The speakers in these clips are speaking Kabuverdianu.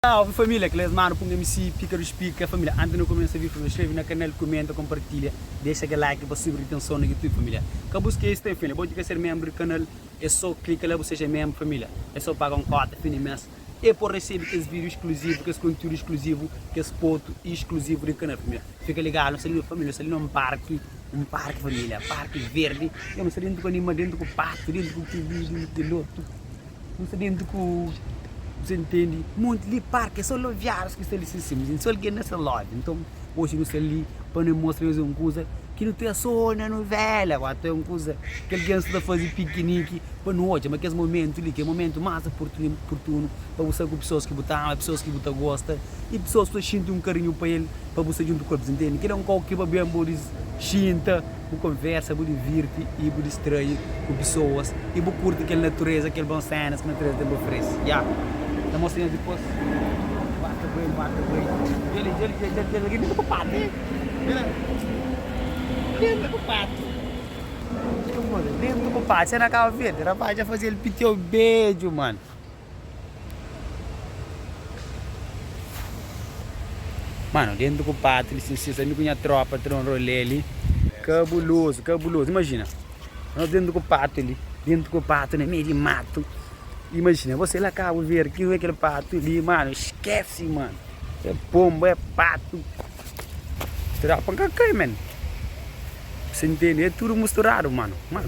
Salve família, kel es manu punha mi si pika dos pika família antes na kumesa víu família skreve na kanal kumenta konpartilha dexa kel like pa subi ritenson na youtube família ka bu skese ten família bo ki ka ser membro di kanal é so klika la bu seja membro família é so paga un kota fim di mes E pode resebe kes vídiu iskluzivu, kes konteúdu iskluzivu, kes fotu iskluzivu di Kanal Primeru. Fika ligadu, nu sta li na família, nu sta li na un parki, un parki família, parki verdi. Yo nu sta déntu ku anima, déntu ku patu, déntu ku kuruju, déntu ku lotu, nu sta déntu ku se ntende? Monti li parki, é sô loviárius ki sta li. Sin, sin, sin, sô algen na sta lóvi. Nton. Oji nu sta li pa nu mostra es un kuza ki nu ta so na nuvela o ata un kuza ki algen sta ta faze pikiniki pa nu odja. Ma kes momentu li ki é momentu más oportunu pa bu sta ku pesoas ki bu ta ama, pesoas ki bu ta gosta i pesoas ki bu ta xinti un karinhu pa el pa bu sta djuntu ku el. Bu ta intende? Kila un kau ki ba ben bo diz xinta. Bu konversa, bu divirti i bu distrai ku pesoas i bu kurti kel natureza, kel bon sénas ki natureza ten pa oferese. Ya. Ta mostra nhos dipôs. Ba ta bai, ba ta bai. Dja li, dja li, dja li, dja li. Algen ta bai pa pátio li. Bira. Algen ta bai pa pátio. Algen ta bai pa pátio. Sé na Kaba Verdi, rapás dja faze el pitiu bedju, mano. Mano, dentro ku pátria, lisinsis, ami ku nha tropa ta da un rolê li, kabulozu, kabulozu, imajina, nos dentro ku pátria li, dentro ku pátria na meiu di matu, imajina, bo sai la Kabu Verdi, ki rua é kel pátria li, mano, skesi, mano, é ponba, é patu, tropa ka kai, men, bu sa intende, é tudu musturadu, mano, mano.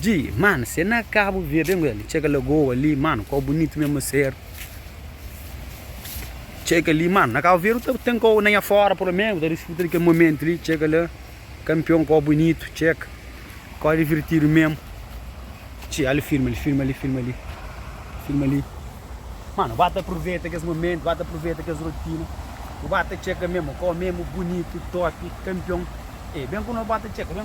Dji, Mano, se na Kabu Verdi Angola li txeka lagoa li, mano, kau bunitu mesmu ma ser Txeka li, mano, na Kabu Verdi ku ta ten kau na nha fora pelo menos ku ta disfruta di kel momento li Txeka la, campeon, kau bunitu, txeka, kau divertidu mesmu Dji, Alo filma li, filma li, filma li, filma li Mano, ba ta proveta kes momento, ba ta proveta kes rotina Bu ba ta txeka mesmu, kau mesmu bunitu, top, campeon Ey, ben ku nos ba ta txeka, ben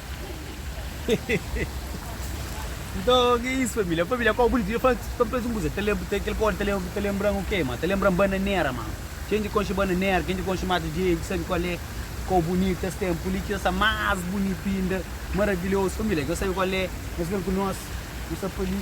Nton, ki é isu família? Família kau bunitu. Dja fla-s pa-m presa un kuza. Ta lenbra, kel kóde ta lenbra-m o ke, ma? Ta lenbra-m bananera, ma. Ken dja konxe bananera, ken dja konxe mata dja dja sabe kual é kau bunitu es ten. Puli ki es sta más bunitu inda, maravilhozu. Família, ki es ta sabe kual é, es ben ku nos, nu sta pa li.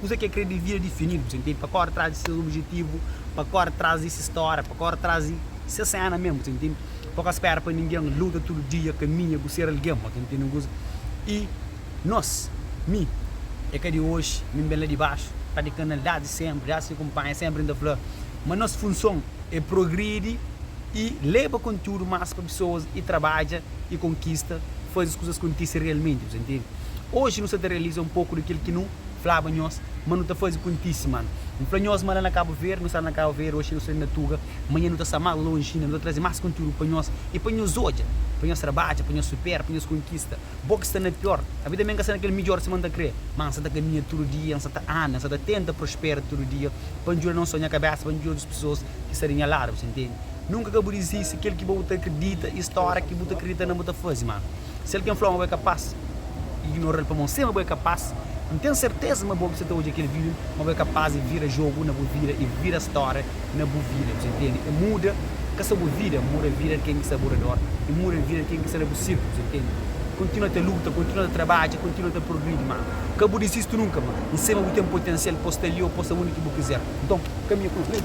Kuza ki é krê di vida difinidu, bu sintidi? Pa kóre tras di ses obijetivu, pa kóre tras di ses stória, pa kóre tras di ses séna mésmu, bu sintidi? Pa ka spéra pa ningen, luta tudu dia, kaminha, bu ser algen, bu ta ntende un kuza? I nos, mi, é ka di oji, mi ben la di baxu, ta di kanal désdi sénpri, désdi ki kunpanha sénpri N ta fla ma nos funson é progridi i leba kontiúdu más pa pesoas i trabadja i konkista, faze kuzas kontise realmenti, bu sintidi? Oji nu sta ta realiza un poku di kel ki nu. flaba nhos ma nu ta faze ku ntismanu. N fla nhos ma la na Kabu Verdi, nu sta na Kabu Verdi, oxi nu sta na Tuga, manha nu ta sta más lonji inda, nu ta traze más kontiúdu pa nhos i pa nhos odja, pa nhos trabadja, pa nhos supera, pa nhos konkista. Bo ki sta na piór, avi tanbê N ka sta na kel midjór sima N ta krê, má N sta ta kaminha tudu dia, N sta ta anda, N sta ta tenta prospera tudu dia pa N djuda non sô nha kabésa, má N djuda otus pesoas ki sta di nha ladu. Bu sta ntende? Nunka ka bu dizisti kel ki bo bu ta kridita i stória ki bu ta kridita na bu ta faze. Má. Si algen fla-u ma bo é kapas di ignora-l pamodi N sê ma bo é kapas, N ten serteza ma bo ki sta ta odja kel vídiu, ma bo é kapas di vira jogu na bu vida i vira stória na bu vida. Dja ntende? É muda ka sô bu vida, N muda vida di ken ki sta a bu redor i muda vida di ken ki sta na bu sírklu. Dja ntende? Kontinua ta luta, kontinua ta trabadja, kontinua ta progridi, má ka bu dizisti nunka, má N sê ma bu ten potensial pa bu sta li ô pa bu sta undi ki bu kizer. Nton, kaminha ku el.